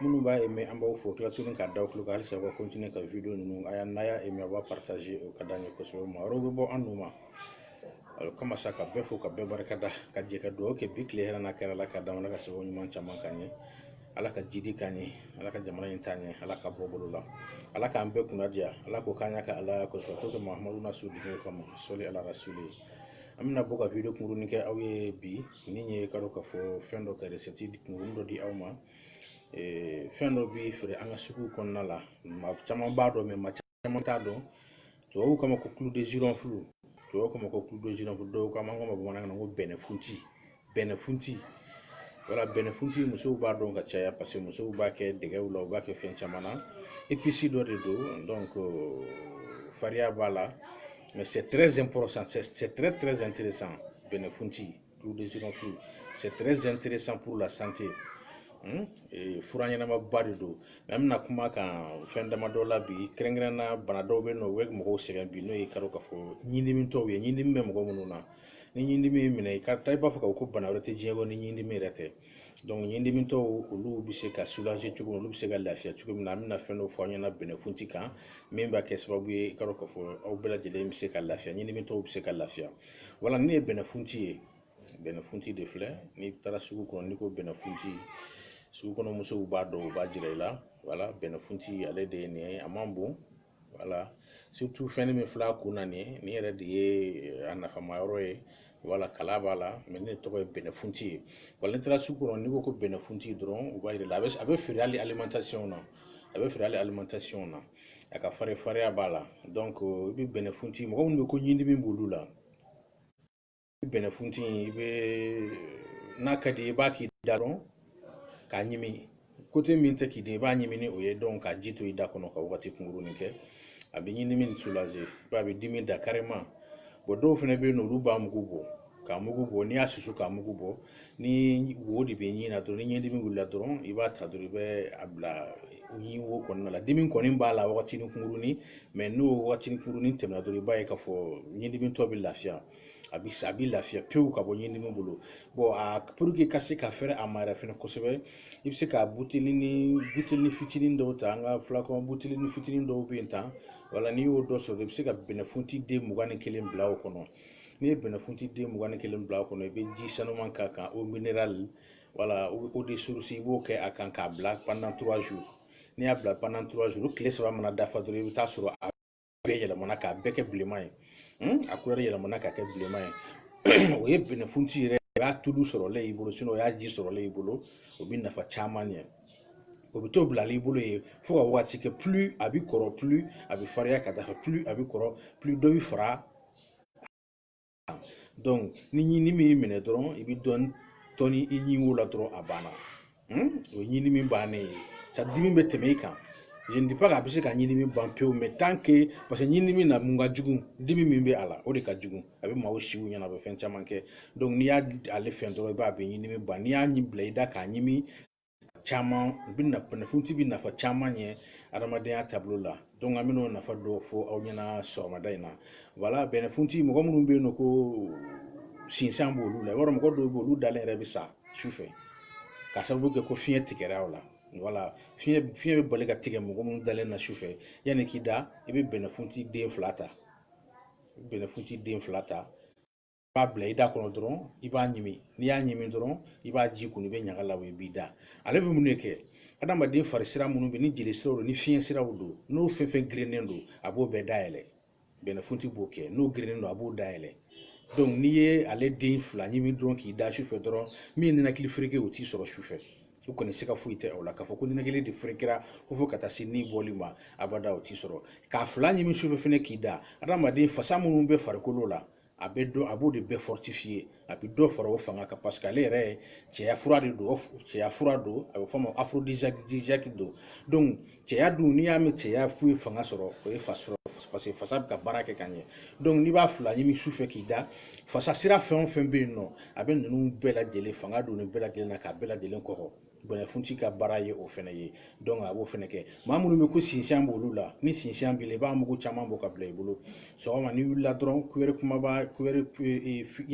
minnu b'a aimé an b'aw fo tila tuguni ka d'aw tulo kan halisa u ka continuer ka video ninnu a y'a n'a y'a aimé a b'a partager o ka d'an ye kosɛbɛ maa wɛrɛw bɛ bɔ a nun ma o kama sa ka bɛɛ fo ka bɛɛ barika da ka jɛ ka dugawu kɛ bi tile hɛrɛ n'a kɛra la ka damana ka sababu ɲuman caman k'an ye ala ka jidi k'an ye ala ka jamana in t'an ye ala k'a bɔ bɔlɔ la ala k'an bɛɛ kunna diya ala k'o k'an y'a kɛ ala kosɛbɛ ko kɛ mahamadu na su dugu kama sɔli ala rasuli an bɛna bɔ ka video kunkurunin kɛ aw ye bi ni ye k'a dɔn k'a fɔ fɛn dɔ ka recette kunkuru dɔ di aw ma fɛn dɔ bɛ feere an ka sugu kɔnɔna la maa caman b'a dɔn mais maa caman t'a dɔn tubabuw k'a ma ko clou de girofle tubabuw k'a ma ko clou de girofle dɔw k'a ma an k'a ma bamanankan na ko bɛnɛfunti bɛnɛfunti wala bɛnɛfunti musow b'a dɔn ka caya parce que musow b'a kɛ dɛgɛw la u b'a kɛ fɛn caman na épice dɔ de don donc fariya b'a la Mais c'est très important, c'est très très intéressant. Benefunti, clou de girofle, c'est très intéressant pour la santé. Hmm? E, fura ɲɛnamaba de don mais an bɛna kuma kan fɛn dama dɔ la bi kɛrɛnkɛrɛnna bana dɔw bɛ yen nɔ u bɛ mɔgɔw sɛgɛn bi n'o ye k'a dɔn k'a fɔ ɲindimitɔw ye ɲindimi bɛ mɔgɔ minnu na ni ɲindimi y'i minɛ i ka taa i b'a fɔ k'a fɔ ko bana wɛrɛ tɛ diɲɛ kɔnɔ ni ɲindimi yɛrɛ tɛ donc ɲindimitɔw olu bɛ se ka soulager cogo min olu bɛ se ka lafiya cogo min na an bɛna fɛn dɔ fɔ aw ɲɛna bɛnɛfunti kan min b'a kɛ sababu ye i k'a dɔn k'a fɔ aw bɛɛ lajɛlen bɛ se ka lafiya ɲindimitɔw bɛ se ka lafiya voilà nin ye bɛnɛfunti ye bɛnɛfunti de filɛ n'i taara sugu kɔnɔ n'i ko bɛnɛfunti sugu kɔnɔ musow b'a dɔn u b'a jira i la voilà bɛnɛfunti ale de ye nin ye a man bon voilà surtout fɛnnin min fil'a kun na nin nin yɛrɛ de ye eh, a nafama yɔrɔ ye voilà kala b'a la mais nin tɔgɔ ye bɛnɛfunti ye voilà n'i taara sugu kɔnɔ n'i ko ko bɛnɛfunti dɔrɔn u b'a yira la a bɛ feere hali alimentation na a bɛ feere hali alimentation na a ka fari fariya b'a la donc i bɛ bɛnɛfunti mɔgɔ minnu bɛ ko ɲindimi b'olu la bɛnɛfunti i bɛ n'a ka di i b'a k'i da rɔ k'a ɲimi côté min tɛ k'i den i b'a ɲimi ni o ye donc k'a ji to i da kɔnɔ ka wagati kunkurunin kɛ a bɛ ɲindimi soulager i b'a bɛ dimi da carrément bon dɔw fana bɛ yen nɔ olu b'a mugu bɔ k'a mugu bɔ n'i y'a susu k'a mugu bɔ ni wo de bɛ ɲin na dɔrɔn ni ɲindimi wulila dɔrɔn i b'a ta dɔrɔn i bɛ a bila ɲin wo kɔnɔna la dimi kɔni b'a la wagatinin kunkurunin mais n'o wagatinin kunkurunin tɛmɛna dɔrɔn i b'a ye k'a fɔ ɲindimitɔ bɛ lafiya a bi a bi lafiya pewu ka bɔ ɲindimi bolo bon a pour que ka se ka fɛrɛ a ma yɛrɛ fɛnɛ kosɛbɛ i bɛ se ka butelinin butelinin fitinin dɔw ta an ka flacon butelinin fitinin dɔw bɛ yen tan voilà n'i y'o dɔ sɔrɔ i bɛ se ka bɛnɛfunti den mugan ni kelen bila o kɔnɔ n'i ye bɛnɛfunti den mugan ni kelen bila o kɔnɔ i bɛ ji sanuman k'a kan eau minérale wala eau de source i b'o kɛ a kan k'a bila pendant trois jours n'i y'a bila pendant trois jours tile saba mana dafa dɔrɔn i bɛ t'a sɔrɔ a bɛɛ yɛlɛmana k'a bɛɛ kɛ bilenman ye hmm? a kulɛri yɛlɛmana k'a kɛ bilenman ye o ye bɛnɛfunti yɛrɛ o y'a tulu sɔrɔlen y'i bolo sinon o y'a ji sɔrɔlen y'i bolo o bɛ nafa caman ɲɛ o bɛ to bilalen i bolo yen fo ka waati kɛ plus a bɛ kɔrɔ plus a bɛ fariya ka taa fɛ plus a bɛ kɔrɔ plus dɔ bɛ fara ni ɲindimi y'i minɛ dɔrɔn i bɛ dɔɔnin tɔni i ɲin wo la dɔrɔn a banna o ye ɲindimi bannen ye sa dimi bɛ tɛmɛ i kan je ne dis pas k'a bɛ se ka ɲindimi ban pewu mais tant que parce que ɲindimi na mun ka jugu dimi min bɛ a la o de ka jugu a bɛ maaw si u ɲɛna a bɛ fɛn caman kɛ donc n'i y'a ale fɛn dɔrɔn i b'a bɛ ɲindimi ban n'i y'a ɲi bila i da k'a ɲimi caman bɛnɛfunti bɛ nafa caman ɲɛ adamadenya taabolo la donc an bɛna o nafa dɔ fɔ aw ɲɛna sɔgɔmada in na voilà bɛnɛfunti mɔgɔ minnu bɛ yen nɔ ko sinsan b' olu la yɔrɔ mɔgɔ dɔw b' olu dalen yɛrɛ bɛ sa su fɛ ka sababu kɛ ko fiɲɛ tigɛra u la voilà fiɲɛ fiɲɛ bɛ bali ka tigɛ mɔgɔ minnu dalen na su fɛ yanni k'i da i bɛ bɛnɛfunti den fila ta bɛnɛfunti den fila ta b'a bila i da kɔnɔ dɔrɔn i b'a ɲimi n'i y'a ɲimi dɔrɔn i b'a ji kunu i b'a ɲaga labɔ i b'i da ale bɛ mun de kɛ adamaden fari sira minnu bɛ ni jeli siraw don ni fiɲɛ siraw don n'o fɛn o fɛn gerennen don a b'o bɛɛ dayɛlɛ bɛnɛfunti b'o kɛ n'o gerennen don a b'o dayɛlɛ donc n'i ye ale den fila ɲimi dɔrɔn k'i da sufɛ dɔrɔn min ninakili fereke o t'i sɔrɔ sufɛ o kɔni siga foyi tɛ o la k'a fɔ ko ninakili de ferekera ko fo ka taa se ni bɔli ma abada o t'i sɔrɔ k'a fila ɲimi sufɛ fɛnɛ k'i da adamaden fasa minnu bɛ farikolo la a bɛ dɔ a b'o de bɛɛ fortifier a bɛ dɔ fara o fanga kan parce que ale yɛrɛ ye cɛya fura de don cɛya fura don a bɛ fɔ o ma aphrodisiaque don donc cɛya dun n'i y'a mɛn cɛya foyi fanga sɔrɔ o ye fasa sɔrɔ parce que fasa bɛ ka baara kɛ ka ɲɛ donc n'i b'a fila ɲimi su fɛ k'i da fasa sira fɛn o fɛn bɛ yen nɔ a bɛ ninnu bɛɛ lajɛlen fanga don nin bɛɛ lajɛlen na k'a bɛɛ lajɛlen kɔkɔ bɛnɛfunti ka baara ye o fɛnɛ ye donc a b'o fɛnɛ kɛ maa minnu bɛ ko sinsian b'olu la ni sinsian b'i la i b'a mugu caman bɔ ka bila i bolo sɔgɔma n'i wulila dɔrɔn kuwɛri kumaba cuillère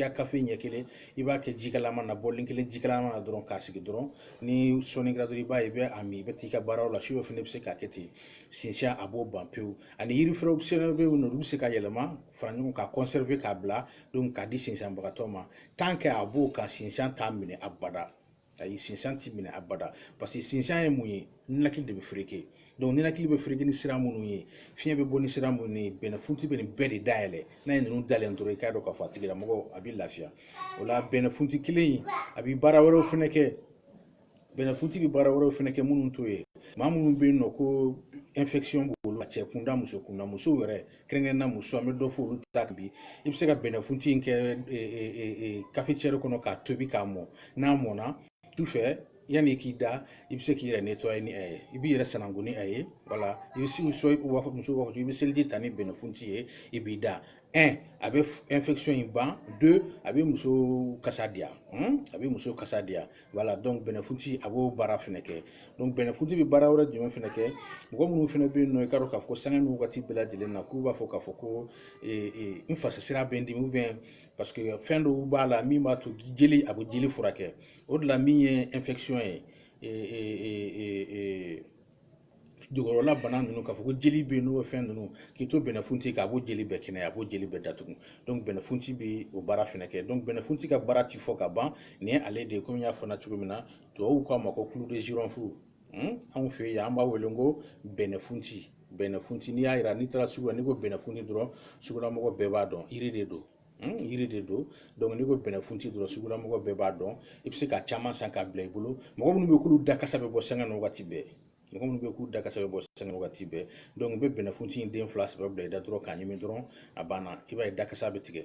à café ɲɛ kelen i b'a kɛ jikalama na bɔli kelen jikalama na dɔrɔn k'a sigi dɔrɔn ni sɔɔni kɛra dɔrɔn i b'a ye i bɛ a min i bɛ t'i ka baaraw la su dɔ fɛnɛ bɛ se k'a kɛ ten sinsian a b'o ban pewu ani yiri wɛrɛw fɛnɛ bɛ yen nɔ olu bɛ se ka yɛlɛma fara ɲɔgɔn ka conserver k'a bila donc k'a di sinsianbagatɔ ma tant que a b'o kan sinsian t'a minɛ abada ayi sinsan t'i minɛ abada parce que sinsan ye mun ye ninakili de bɛ fereke donc ninakili bɛ fereke ni sira minnu ye fiɲɛ bɛ bɔ ni sira minnu ye bɛnɛfunti bɛ nin bɛɛ de dayɛlɛ n'a ye ninnu dayɛlɛ dɔrɔn i k'a dɔn k'a fɔ a tigilamɔgɔ a bɛ lafiya o la bɛnɛfunti kelen in a bɛ baara wɛrɛw fɛnɛ kɛ bɛnɛfunti bɛ baara wɛrɛw fɛnɛ kɛ minnu t'o ye maa minnu bɛ yen nɔ ko infection b'olu la cɛ kunda muso kunda musow yɛrɛ kɛrɛnkɛrɛnna muso an bɛ dɔ fɔ olu ta kan bi i bɛ se ka bɛnɛfunti in kɛ cafetière kɔnɔ k'a tobi k'a mɔ n'a mɔna su fɛ yanni k'i da i bɛ se k'i yɛrɛ nettoyer ni a ye i b'i yɛrɛ sanango ni a ye voilà i bɛ se muso b'a fɔ muso b'a fɔ i bɛ seliji ta ni bɛnɛfunti ye i b'i da un a bɛ infection in ban deux a bɛ muso kasa diya a bɛ muso kasa diya voilà donc bɛnɛfunti a b'o baara fɛnɛ kɛ donc bɛnɛfunti bɛ baara wɛrɛ jumɛn fɛnɛ kɛ mɔgɔ minnu fɛnɛ bɛ yen nɔ i k'a dɔn k'a fɔ sanga ni wagati bɛɛ lajɛlen na k'u b'a fɔ k'a fɔ ko n fasasira bɛ n dimi ou bien parce que fɛn dɔw b'a la min b'a to jeli a bɛ jeli furakɛ o de la min ye infection ye jukɔrɔla bana ninnu k'a fɔ ko jeli bɛ yen n'o fɛn ninnu k'i to bɛnɛfunti k'a b'o jeli bɛɛ kɛnɛya a b'o jeli bɛɛ datugu donc bɛnɛfunti bɛ o baara fɛnɛ kɛ donc bɛnɛfunti ka baara ti fɔ ka ban nin ye ale de ye komi n y'a fɔ na cogo min na tubabuw k'a ma ko clou de girofle hmm? anw fɛ yan an b'a wele ko bɛnɛfunti bɛnɛfunti n'i y'a jira n'i taara sugu la n'i ko bɛnɛfunti dɔrɔn sugulamɔgɔ bɛɛ b'a dɔn yiri de don Hmm, yiri de don donc n'i ko bɛnɛfunti dɔrɔn sugulamɔgɔ bɛɛ b'a dɔn i bɛ se ka caman san k'a bila i bolo mɔgɔ minnu bɛ k'olu da kasa bɛ bɔ sanga ni wagati bɛɛ mɔgɔ minnu bɛ k'u da kasa bɛ bɔ sanga ni wagati bɛɛ donc i bɛ bɛnɛfunti den fila saba bila i da dɔrɔn k'a ɲimi dɔrɔn a banna i b'a ye da kasa bɛ tigɛ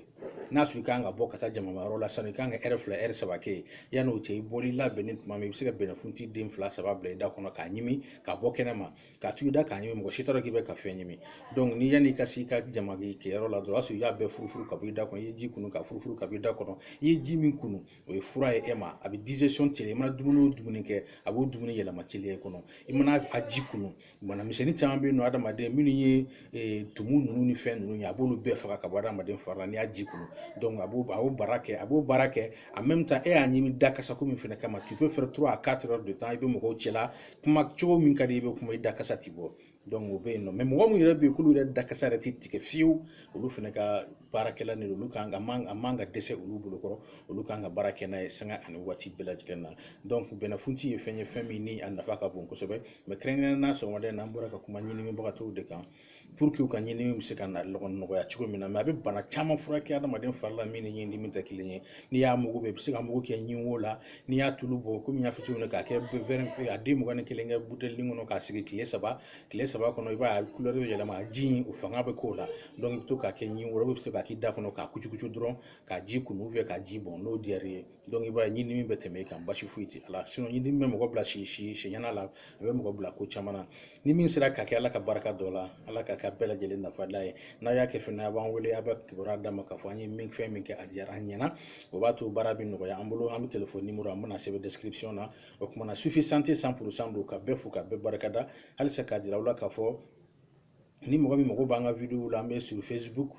n'a sɔrɔ i kan ka bɔ ka taa jamamayɔrɔ la sanni i kan ka heure fila heure saba kɛ yen yanni o cɛ i bɔli labɛnnen tuma min i bɛ se ka bɛnɛfunti den fila saba bila i da kɔnɔ k'a ɲimi ka bɔ kɛnɛma k'a to i da k'a ɲimi mɔgɔ si t'a dɔn k'i bɛ ka fɛn ɲimi ni yanni i ka se i ka jama kɛyɔrɔ la dɔrɔn o y'a sɔrɔ i y'a bɛɛ furufuru ka bɔ i da kɔnɔ i ye ji kunu ka furufuru ka bɔ i da kɔnɔ i ye ji min kunu o ye fura ye e ma a bɛ digestion teliya i mana dumuni o dumuni kɛ a b'o dumuni yɛlɛma teliya i kɔnɔ i mana a ji kunu banamisɛnnin caman bɛ yen nɔ adamaden minnu ye eh, tumu ninnu ni fɛn ninnu ye a b'olu bɛɛ faga ka bɔ adamaden fari la n'i y'a ji kunu donc a b'o a b'o baara kɛ a b'o baara kɛ en même temps e y'a ɲimi da kasa ko min fɛnɛ kama tu peux faire trois à quatre heures de temps i bɛ mɔgɔw cɛla kuma cogo min ka di i bɛ kuma i da kasa ti bɔ donc o bɛ yen nɔ mais mɔgɔ minnu yɛrɛ bɛ yen k'olu yɛrɛ da kasa yɛrɛ ti tigɛ fiyewu olu fɛnɛ ka baarakɛlan don olu kan ka man a man ka dɛsɛ olu bolo kɔrɔ olu kan ka baara kɛ n'a ye sanga ani waati bɛɛ lajɛlen na donc bɛnɛfunti ye fɛn ye fɛn min ni a nafa ka bon kosɛbɛ mais kɛrɛnkɛrɛnnen na sɔgɔmada in na an bɔra ka kuma ɲindimibagatɔw de kan pour que u ka ɲindimi bɛ se ka nɔgɔya cogo min na mais a bɛ bana caman furakɛ adamaden fari la min ni ɲindimi tɛ kelen ye n'i y'a mugu bɔ i bɛ se k'a mugu kɛ ɲin wo la n'i y'a tulu bɔ komi n y'a fɔ cogo min na k'a kɛ wɛri a den mugan ni kelen kɛ buteli kɔnɔ k'a sigi tile saba tile saba kɔnɔ i b'a ye a kulɛri bɛ yɛlɛma a ji in o fanga bɛ k'o la donc i bɛ to k'a kɛ ɲin wo i bɛ se k'a k'i da kɔnɔ k'a kucukucu dɔrɔn k'a ji kunu ou bien k'a ji bɔn n'o diyar'i ye donc i b'a ye ɲindimi bɛ tɛmɛ i kan basi foyi tɛ a la sinon ɲindimi bɛ mɔgɔ bila si si siɲɛna la a bɛ mɔgɔ bila ko caman na ni min sera ka kɛ ala ka barika don a la ala ka kɛ bɛɛ lajɛlen nafala ye n'a y'a kɛ fɛnɛ a b'an wele a bɛ kibaruya d'an ma k'a fɔ an ye min fɛn min kɛ a diyara an ɲɛna o b'a to baara bɛ nɔgɔya an bolo an bɛ telefɔni nimoro an bɛn'a sɛbɛn description na o kuma na sufi santé cent pour cent don ka bɛɛ fo ka bɛɛ barikada halisa k'a jira aw la k'a fɔ ni mɔgɔ min mago b'an ka videow la an bɛ sur facebook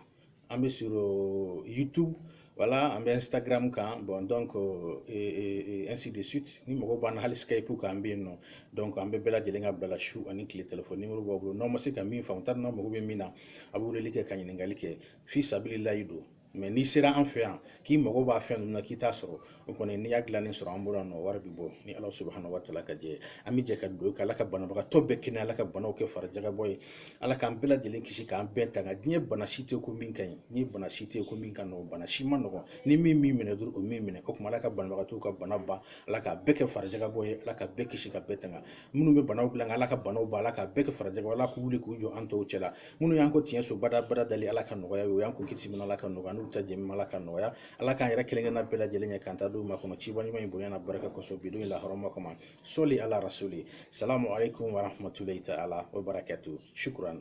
an bɛ sur euh, youtube voilà an bɛ instagram kan bon donc euh, et, et, ainsi de suite n'i mago b'an na hali skype kan an bɛ yen nɔ donc an bɛ bɛɛ lajɛlen ka bila la su ani tile telefɔni nimoro b'aw bolo n'aw ma se ka min faamu t'a dɔn n'aw mago bɛ min na a bɛ weleli kɛ ka ɲininkali kɛ fi sabililayi don mais n'i sera an fɛ yan k'i mago b'a fɛn ninnu na k'i t'a sɔrɔ o kɔni n'i y'a dilannen sɔrɔ an bolo yan nɔ wari bɛ bɔ ni ala subahana wa taala ka jɛ an bɛ jɛ ka dugawu kɛ ala ka banabagatɔ bɛɛ kɛnɛya ala ka banaw kɛ farijakabɔ ye ala k'an bɛɛ lajɛlen kisi k'an bɛɛ tanga diɲɛ bana si tɛ ko min ka ɲi ni bana si tɛ ko min ka nɔgɔn bana si ma nɔgɔn ni min min minɛ dɔrɔn o min minɛ o tuma ala ka banabagatɔw ka bana ban ala k'a bɛɛ kɛ farijakabɔ ye ala ka bɛɛ kisi ka bɛɛ tanga minnu bɛ banaw dilan ala ka banaw ban ala k'a bɛɛ kɛ farijakabɔ ala k'u wuli k'u jɔ an tɔw cɛla minnu y'an kɔn tiɲɛso badabada dali ala ka nɔgɔya ye u y'an kɔn kisi minɛ ala ka nɔgɔya n'u ta jɛmi ala ka nɔgɔya ala k'an yɛrɛ kelen kelenna bɛɛ lajɛlen ɲɛ k'an ta d'u ma kɔnɔ ciba ɲuman in bonya n'a barika kosɔn bi don in la hɔrɔma kama soli ala rasuli salamu alaikum warahmatulahi taala wa barakatu shukuran